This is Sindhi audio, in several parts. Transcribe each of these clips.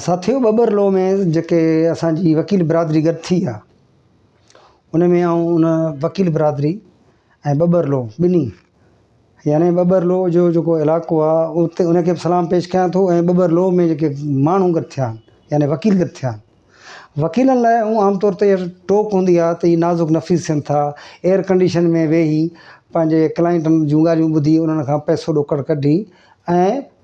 ساٿيو ٻٻر لو ۾ جيڪي اسان جي وڪيل برادري گڏ ٿي آ ان ۾ آئون ان وڪيل برادري ۽ ٻٻر لو ٻنهي يعني ٻٻر لو جو جيڪو علائقو آ اتي ان کي سلام پيش ڪيان ٿو ۽ ٻٻر لو ۾ جيڪي ماڻهو گڏ ٿيا آهن يعني وڪيل گڏ ٿيا آهن وڪيلن لاء اهو عام طور تي ٽوڪ هوندي آ ته هي نازڪ نفيس ٿين ٿا ايئر ڪنڊيشن ۾ ويهي پنهنجي ڪلائنٽن جون ڳالهيون ٻڌي انهن کان پئسو ڏوڪڙ ڪڍي ۽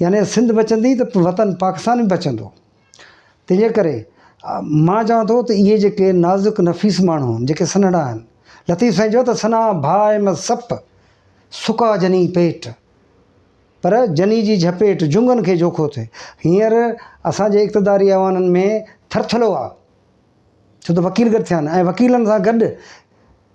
يعني سنڌ بچندي ته وطن پاڪستان به بچندو تنهنجي ڪري مان چوان ٿو ته اهي جيڪي نازڪ نفيس ماڻهو آهن جيڪي سنهڙا آهن لطيف سائين چيو ته سنا ڀاء احمد سپ سڪا جني پيٽ پر جني جي جهپيٽ جنگن کي جوکو ٿئي هينئر اسانجي اقتداري ايوانن ۾ ٿرٿلو آهي ڇو ته وڪيل گڏ ٿيا آهن ۽ وڪيلن سان گڏ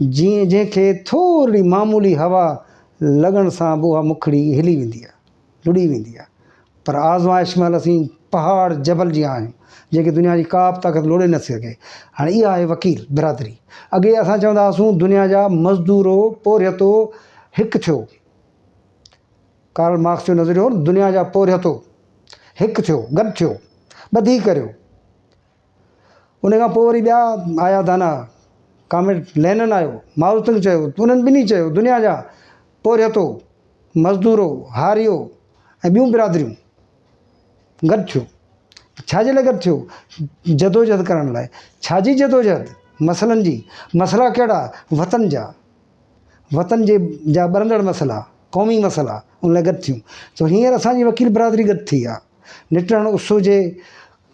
جيئن جنهن کي ٿورڙي معمولي هوا لڳڻ سان به اها مکڙي هلي ويندي آهي، لڏي ويندي آهي. پر آزمائش مهل اسين پهاڙ جبل جيان آهيون، جنهن کي دنيا جي ڪا به طاقت لوڏي نه سگهي. هاڻي اها آهي وڪيل برادري. اڳي اسان چوندا هئاسون دنيا جا مزدورو، پورهيتو هڪ ٿيو. ڪارل مارڪس جو نظريو هو نه دنيا جا پورهيتو هڪ ٿيو، گڏ ٿيو، ٻڌي ڪريو. ان کان پوء وري ٻيا آيا دانا، ڪامريڊ لينن آيو، مائوزتنگ چيو، انهن ٻنهي چيو، دنيا جا پورهيتو، مزدورو، هاريو ۽ ٻيون برادريون گڏ ٿيو. ڇا جي لاء گڏ ٿيو؟ جدوجهد ڪرڻ لاء. ڇا جي جدوجهد؟ مسئلن جي. مسئلا ڪهڙا؟ وطن جا. وطن جي جا ٻرندڙ مسئلا، قومي مسئلا، ان لاء گڏ ٿيون. سو هينئر اسان جي وڪيل برادري گڏ ٿي آهي. نٽهڙ اس هجي،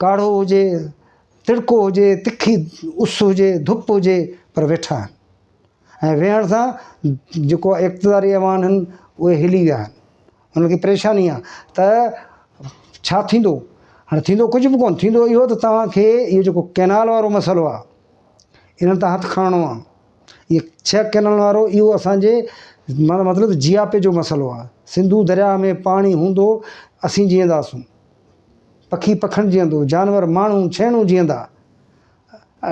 ڪاڙهو هجي، تڙڪو هجي، تکي اس هجي، ڌپ هجي پر ويٺا آهن ۽ ويهڻ سان جيڪو اقتداري ايوان آهن اهي هلي ويا آهن. انهن کي پريشاني آهي ته ڇا ٿيندو؟ هاڻي ٿيندو ڪجهه به ڪونه، ٿيندو اهو ته توهان کي اهو جيڪو ڪئنال وارو مسئلو آهي انهن تان هٿ کڻڻو آهي. اهي ڇهه ڪئنالن وارو اهو اسانجي مطلب جياپي جو مسئلو آهي. سنڌو درياهه ۾ پاڻي هوندو اسين جيئنداسون. پکي پکڻ جيئندو، جانور، ماڻهو، ڇيڻو جيئندا.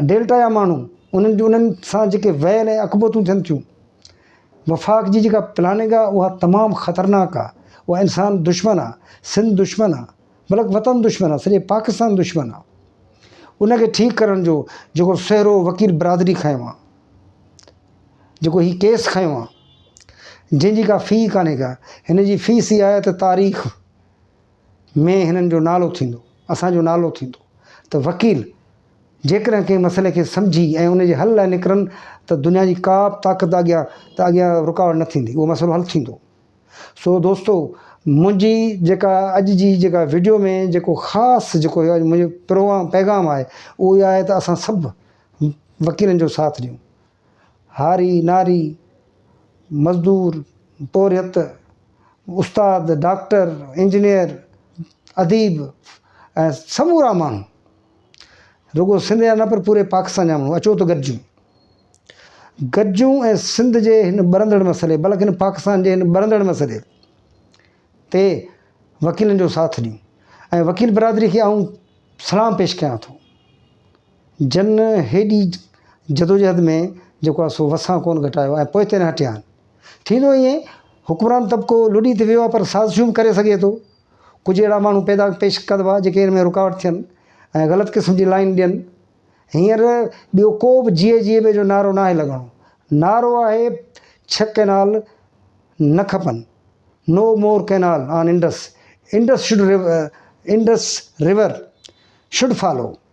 ڊيلٽا جا ماڻهو، انهن جون انهن سان جيڪي ويل ۽ اڪبوتون ٿين ٿيون. وفاق جي جيڪا پلاننگ آ اها تمام خطرناڪ آ، اها انسان دشمن آ، سنڌ دشمن آ، بلڪ وطن دشمن آ، سڄي پاڪستان دشمن آ. ان کي ٺيڪ ڪرڻ جو جيڪو سهرو وڪيل برادري کنيو آ، جيڪو هي ڪيس کنيو آ، جنهن جي ڪا في ڪانهي ڪا، هن جي في سي آهي ته تاريخ، ۾ هنن جو نالو ٿيندو، اسان جو نالو ٿيندو ته وڪيل جيڪڏهن ڪنهن مسئلي کي سمجهي ۽ ان جي حل لاء نڪرن ته دنيا جي ڪا به طاقت اڳيان ته اڳيان رڪاوٽ نه ٿيندي اهو مسئلو حل ٿيندو. سو دوستو منهنجي جيڪا اڄ جي جيڪا وڊيو ۾ جيڪو خاص جيڪو اڄ منهنجو پروام پيغام آهي اهو اهي آهي ته اسان سڀ وڪيلن جو ساٿ ڏيون. هاري ناري، مزدور، پورهيت، استاد، ڊاڪٽر، انجنيئر، اديب ۽ سمورا ماڻهو رڳو سنڌ جا نه پر پوري پاڪستان جا ماڻهو اچو ته گڏجون. گڏجون ۽ سنڌ جي هن ٻرندڙ مسئلي بلڪن پاڪستان جي هن ٻرندڙ مسئلي تي وڪيلن جو ساٿ ڏيون ۽ وڪيل برادري کي آئون سلام پيش ڪيان ٿو. جن هيڏي جدوجهد ۾ جيڪو آهي سو وسان ڪونه گهٽايو ۽ پوئتي نه هٽيا آهن. ٿيندو ائين، حڪمران طبقو لڏي ته ويو آهي پر سازشون به ڪري سگهي ٿو. ڪجهه اهڙا ماڻهو پيدا پيش ڪبا جيڪي ان ۾ رڪاوٽ ٿين ۽ غلط قسم جي لائين ڏين. هينئر ٻيو ڪو به جيئي جيئي ٻي جو نعرو ناهي لڳڻو. نعرو آهي ڇهه ڪئنال نه کپن، no more canal on Indus, Indus should Indus river should follow.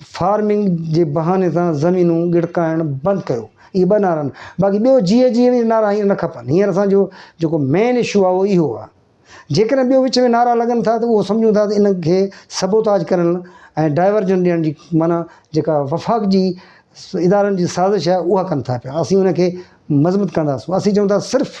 Farming جي بهاني سان زمينون ڳڙڪائڻ بند ڪيو اهي ٻه نعرا آهن باقي ٻيو جي اي جي اهي نعرا هينئر نه کپن هينئر اسان جو جيڪو مين اشو آهي اهو اهو آهي جيڪڏهن ٻيو وچ ۾ نعرا لڳن ٿا ته اهو سمجهون ٿا ته ان کي سبوتاج ڪرڻ ۽ ڊائيورجن ڏيڻ جي معنيٰ جيڪا وفاق جي ادارن جي سازش آهي اها ڪن ٿا پيا اسين ان کي مذمت ڪنداسون اسين چئون ٿا صرف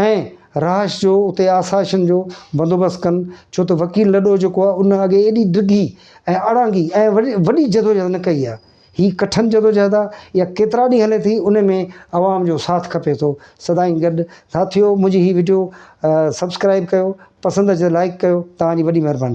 ۽ رهائش جو اتي آسائشن جو بندوبست ڪن ڇو ته وڪيل لڏو جيڪو آهي ان اڳي ايڏي ڊگهي ۽ اڙانگي ۽ وڏي جدوجهد نه ڪئي آهي هي ڪٺن جدوجهد آهي اها ڪيترا ڏينهن هلي ٿي ان ۾ عوام جو ساٿ کپي ٿو سدائين گڏ ساٿيو منهنجي هي وڊيو سبسڪرائب ڪيو پسند اچي ته لائڪ ڪيو توهان جي وڏي مهرباني.